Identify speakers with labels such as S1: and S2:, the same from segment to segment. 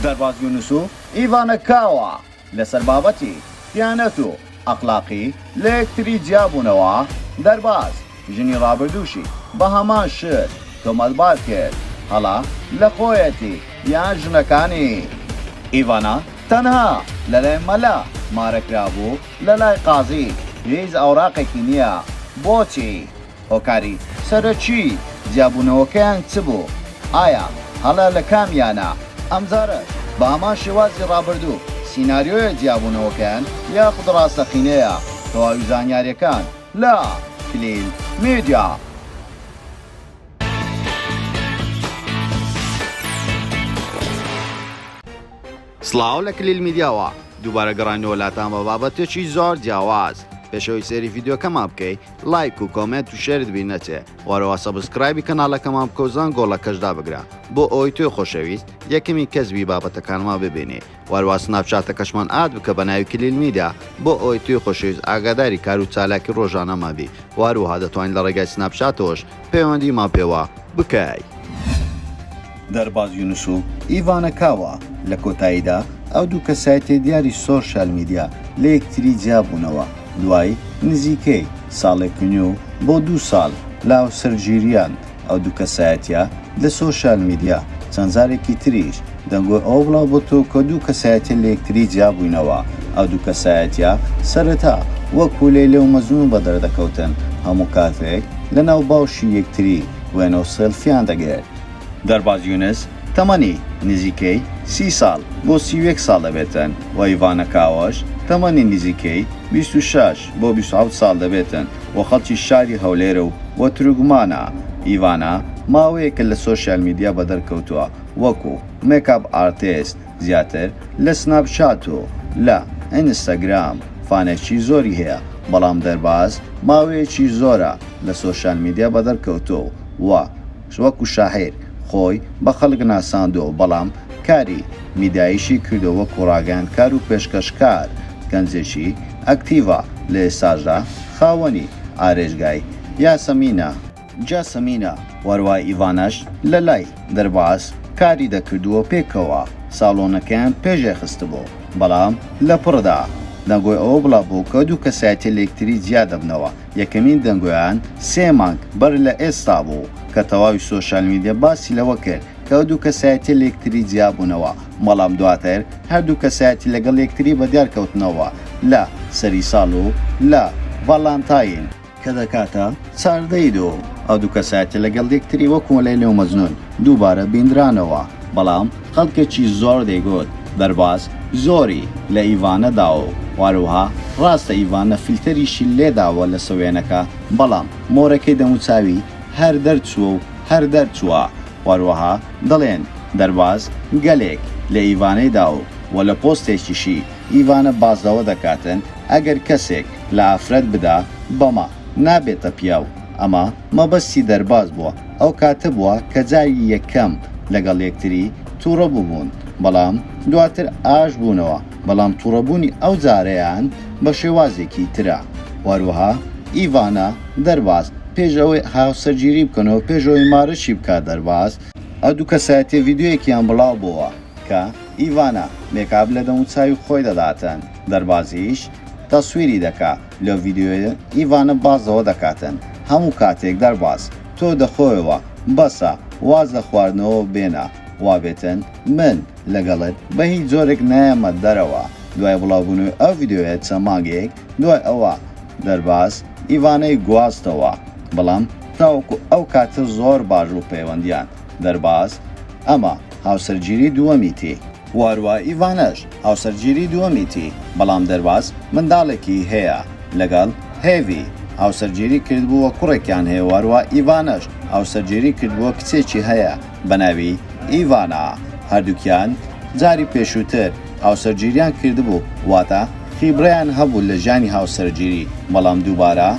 S1: دەرباز یونس و ئیڤانە کاوا لەسەر بابەتی، دیانەت و ئەخلاقی، لە یەکتری جیابوونەوە، دەرباز ژنی ڕابردووشی بە هەمان شت تۆمەتبار کرد، هەڵە لە خۆیەتی یان ژنەکانی؟ ئیڤانە تەنها لەلای مەلا مارەکرابوو لەلای قازی هیچ ئەوراقێکی نییە بۆچی؟ هۆکاری سەرەکی جیابوونەوەکەیان چ بوو؟ ئایا هەڵە لە کامیانە؟ ئەمجارەش بە هەمان شێوازی ڕابردوو سیناریۆیە جیابوونەوەکەیان یاخود ڕاستەقینەیە؟ تەواوی زانیارییەکان لە، کلیل میدیا. سڵاو لە کلیل میدیاوە، دووبارە گەڕاینەوە لاتان بە بابەتێکی زۆر جیاواز، پێش ئەوەی سەیری ڤیدیۆکەمان بکەی لایک و کۆمێنت و شێرت بیر نەچێ، وەرەوە سەبسکرایبی کەناڵەکەمان بکە و زەنگۆڵەکەش دابگرە بۆ ئەوەی تۆی خۆشەویست یەکەمین کەس بی بابەتەکانمان ببینی، وەرەوە سناپچاتەکەشمان ئاد بکە بە ناوی کلیل میدیا بۆ ئەوەی تۆی خۆشەویست ئاگاداری کار و چالاکی ڕۆژانەمان بی، وەروەها دەتوانی لە ڕێگای سناپچاتەوەش پەیوەندی ما پێوە بکەی. دەرباز یونس و ئیڤانا کاوا، لە کۆتاییدا ئەو دوو کەسایەتیە دیاری سۆشیال میدیا لە یەکتری جیا بوونەوە دوای نزیکەی ساڵێک نیو بۆ دوو ساڵ لە هاوسەرگیریان، ئەو دوو کەسایەتیە، لە سۆشیال میدیا چەند جارێکی تریش دەنگۆی ئەوە بڵاو بۆتەوە کە دوو کەسایەتیە لە یەکتری جیابووینەوە، ئەو دوو کەسایەتیە سەرەتا وەکو لەیلە و مەجنون بەدەردەکەوتن، هەموو کاتێک لەناو باوشی یەکتری وێنە و سێلفیان دەگرت. دەرباز یونس تەمەنی نزیکەی سی ساڵ بۆ سی و یەک ساڵ دەبێتن و ئیڤانە کاوەش تەمەنی نزیکەی بیست و شەش. بۆ بیست و حەوت ساڵ دەبێتن و خەڵکی شاری هەولێرە و و تروکمانە، ئیڤانا ماوەیەکە لە سۆشیال میدیا بەدەر کەوتووە وەکو مێکاپ ئارتێست زیاتر لە سناپ چات و لە ئینستاگرام فانێکی زۆری هەیە بەڵام دەرباز ماوەیەکی زۆرە لە سۆشیال میدیا بەدەر کەوتووە و وەکو شاعیر خۆی بە خەڵک ناساندووە، بەڵام کاری میداییشی کردووە وەکو ڕاگەیاندکار و پێشکەشکار، گەنجێکی ئەکتیڤە، لە ئێستاشدا خاوەنی ئارێژگای، یاسەمینە. جاسمینە وەروا ئیڤاناش لە لای، دەرباز، کاری دەکردو و پێکەوە ساڵۆنەکەیان پێشێ خستبوو، بەڵام لە پڕدا دەنگۆی ئەوە بڵاو بوو کە دوو کەسایەتی لە یەکتری جیا دەبنەوە، یەکەمین دەنگۆیان سێ مانگ بەر لە ئێستا بوو کە تەواوی سۆشیال میدیا باسی لەوە کرد کە ئەو دوو کەسایەتیە لەیەکتری جیابوونەوە، بەڵام دواتر هەردوو کەسایەتی لەگەڵ یەکتری بەدیار کەوتنەوە لە سەری ساڵ و لە ڤالانتاین، کە دەکاتە چاردە ی دوو، ئەو دوو کەسایەتیە لەگەڵ یەکتری وەکو لەیلی و مەجنون دووبارە بینرانەوە، بەڵام خەڵکێکی زۆر دەیگوت بەرباس زۆری لە ئیڤانە داوە و هەروەها ڕاستە ئیڤانە فلتەریشی لێ داوە لەسە وێنەکە بەڵام مۆرەکەی دەموچاوی هەر دەرچووە و هەر دەرچووە و هەروەها دەڵێن بەرباس گەلێک لە ئیڤانەی داوە و لە پۆستێکیشی ئیڤانە باس لەوە دەکاتن ئەگەر کەسێک لە ئافرەت بدا بە نابێتە پیاو ئەمە مەبەستی دەرباز بووە ئەوکاتە بووە کە جاری یەکەم لەگەڵ یەکتری توڕە بووبوون بەڵام دواتر ئاش بوونەوە بەڵام توڕەبوونی ئەو جارەیان بە شێوازێکی ترە وەروەها ئیڤانا دەرباز پێش ئەوەی هاوسەرگیری بکەنەوە پێش ئەوەی مارەشی بکات دەرباز ئەو دوو کەسایەتیە ڤیدیۆیەکیان بڵاو بۆوە کە ئیڤانا مێکاب لە دەموچاوی خۆی دەداتن دەربازیش تەسویری دەکا. لەو ڤیدیۆیە ئیڤانە باس لەوە دەکاتن هەموو کاتێک دەرباز تۆ دەخۆیەوە بەسە واز لە خواردنەوە بێنە وابێتن من لەگەڵت بەهیچ جۆرێک نایەمە دەرەوە دوای بڵاوبونەوەی ئەو ڤیدیۆیە چەند مانگێک دوای ئەوە دەرباز ئیڤانەی گواستەوە بەڵام تاوەکو ئەو کاتە زۆر باش بوو پەیوەندیان دەرباز ئەمە هاوسەرگیری دووەمیتی. واروا ئیڤانەش هاوسەرگیری دووەمیتی، بەڵام دەرواز منداڵێکی هەیە لەگەڵ هێڤی، هاوسەرگیری کردبووە کوڕێکیان هەیە واروا ئیڤانەش هاوسەرگیری کردبووە کچێکی هەیە بەناوی ئیڤانا هەردووکیان جاری پێشووتر هاوسەرگیریان کردبوو واتە خیبرەیان هەبوو لە ژیانی هاوسەرگیری بەڵام دووبارە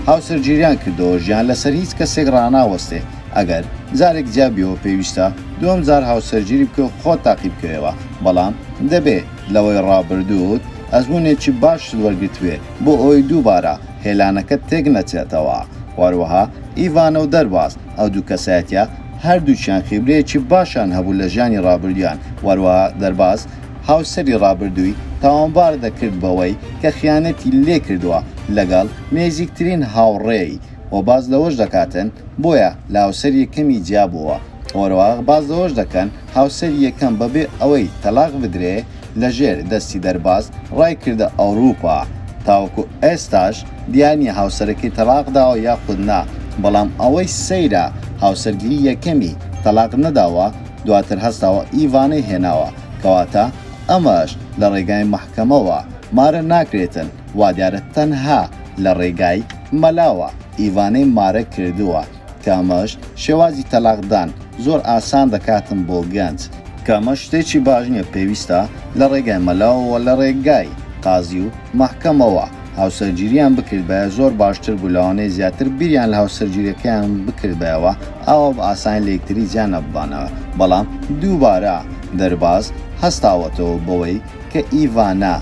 S1: هاوسەرگیریان کردەوە ژیان لەسەر هیچ کەسێک ڕاناوەستێ ئەگەر جارێک جیابیەوە پێویستە دووەم جار هاوسەرگیری بکەی و خۆت تاقی بکەیەوە بەڵام دەبێ لەوەی ڕابردووت ئەزموونێکی باشت وەرگرتبێ بۆ ئەوەی دووبارە هێلانەکەت تێک نەچێتەوە هەروەها ئیڤانا و دەرباز ئەو دوو کەسایەتیە هەردووکیان خیبرەیەکی باشیان هەبوو لە ژیانی ڕابردوویان وەروەها دەرباز هاوسەری ڕابردووی تاوانبار دەکرد بەوەی کە خیانەتی لێکردووە لەگەڵ نێزیکترین هاوڕێی و باس لەوەش دەکاتن بۆیە لە هاوسەری یەکەمی جیا بۆوە، وەرەوە باس لەوەش دەکەن هاوسەری یەکەم بەبێ ئەوەی تەلاق بدرێ لەژێر دەستی دەرباز ڕای کردە ئەوروپا، تاوەکو ئێستاش دیار نیە هاوسەرەکەی تەلاق داوە یاخود نا، بەڵام ئەوەی سەیرە هاوسەرگیری یەکەمی تەلاق نەداوە دواتر هەستاوە ئیڤانەی هێناوە، کەواتە ئەمەش لە ڕێگای مەحکەمەوە مارە ناکرێتن وادیارە تەنها لە ڕێگای. مەلاوە ئیڤانەی مارە کردووە کە ئەمەش شێوازی تەلاق دان زۆر ئاسان دەکاتم بۆ گەنج. کە ئەمە شتێکی باش نیە پێویستە لە ڕێگای مەلاوە وە لە ڕێگای قازی و مەحکەمەوە هاوسەرگیریان بکردبایە زۆر باشتر بوو لەوانەیە زیاتر بیریان لە هاوسەرگیریەکەیان بکردبایەوە ئاوا بە ئاسانی لە یەکتری جیا نەببانەوە بەڵام دووبارە دەرباز هەستاوەتەوە بەوەی کە ئیڤانا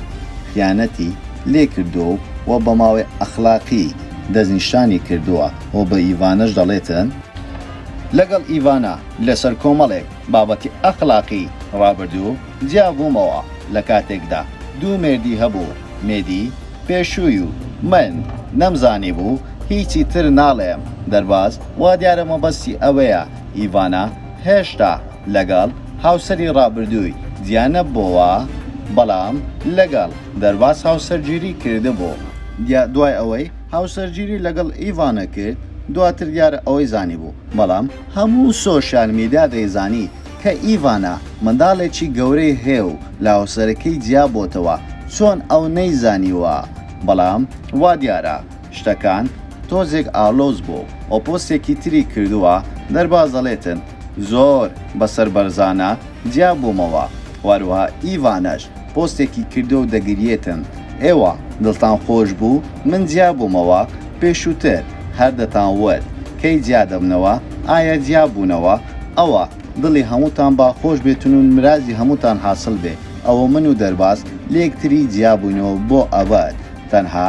S1: خیانەتی لێ کردووە و و بە ماڵی ئەخلاقی دەستنیشانی کردووە و بە ئیڤاناش دەڵێتن لەگەڵ ئیڤانا لەسەر کۆمەڵێک بابەتی ئەخلاقی ڕابردوو جیا بوومەوە لە کاتێکدا دوو مێردی هەبوو مێدی پێشووی و من نەمزانیبوو هیچی تر ناڵێم دەرباز وادیارە مەبەستی ئەوەیە ئیڤانا هێشتا لەگەڵ هاوسەری ڕابردووی جیانەببۆوە، بەڵام لەگەڵ دەرباز هاوسەرگیری کردبوو. دوای ئەوەی هاوسەرگیری لەگەڵ ئیڤانا کرد، دواتر دیارە ئەوەی زانیبوو، بەڵام هەموو سۆشیال میدیا دەیزانی کە ئیڤانا منداڵێکی گەورەی هەیە و لە هاوسەرەکەی جیابۆتەوە، چۆن ئەو نەیزانیوە؟ بەڵام وادیارە شتەکان تۆزێک ئالۆز بوو و پۆستێکی تری کردووە، دەرباز دەڵێتن زۆر بە سەر بەرزانە جیا بوومەوە و هەروەها ئیڤانەش پۆستێکی کردووە و دەگریێتن ئێوە دڵتان خۆش بوو من جیا بوومەوە پێشووتر هەر دەتان وت کەی جیا دەبنەوە ئایا جیا بوونەوە ئەوە دڵی هەمووتان با خۆش بێتن و نرازی هەمووتان حاسڵ بێ ئەوە من و دەرباز لە یەکتری جیا بووینەوە بۆ ئەبەد تەنها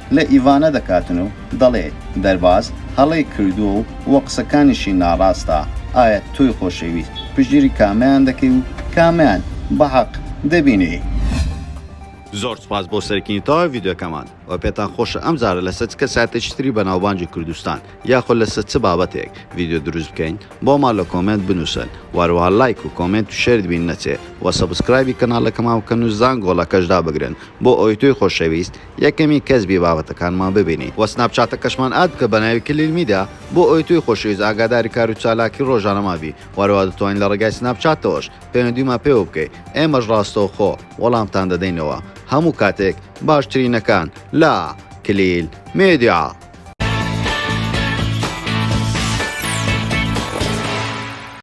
S1: لە ئیڤانە دەکاتن و دەڵێ، دەرباز هەڵەی کردووە و و قسەکانیشی ناڕاستە، ئایا تۆی خۆشەویست پشتگیری کامەیان دەکەی و کامەیان بە حەق دەبینی؟ زۆر سوپاس بۆ سەرکینی تەواوی ڤیدیۆکەمان وە پێتان خۆشە ئەم جارە لەسەر چ کەسایەتێکی تری بەناوبانگی کوردستان یاخۆ لەسەر چ بابەتێک ڤیدیۆ دروست بکەین بۆمان لە کۆمێنت بنووسن وە هەروەها لایک و کۆمێنت و شێرت بین نەچێ وە سەبسکرایبی کەناڵەکەمان بکەن و زانگۆڵەکەش دابگرن بۆ ئەوەی تۆی خۆشەویست یەکەمین کەس بی بابەتەکانمان ببینی وە سناپ چاتەکەشمان ئاد بکە بەناوی کلیل میدیا بۆ ئەوەی تۆی خۆشەویست ئاگاداری کارو چالاکی ڕۆژانەمان بی وەرەوا دەتوانی لە ڕێگای سناپ چاتەوەش پەیوەندیمان پێوە بکەی ئێمەش ڕاستەوخۆ وەڵامتان دەدەینەوە هەموو کاتێک باشترینەکان لە کلیل میدیا.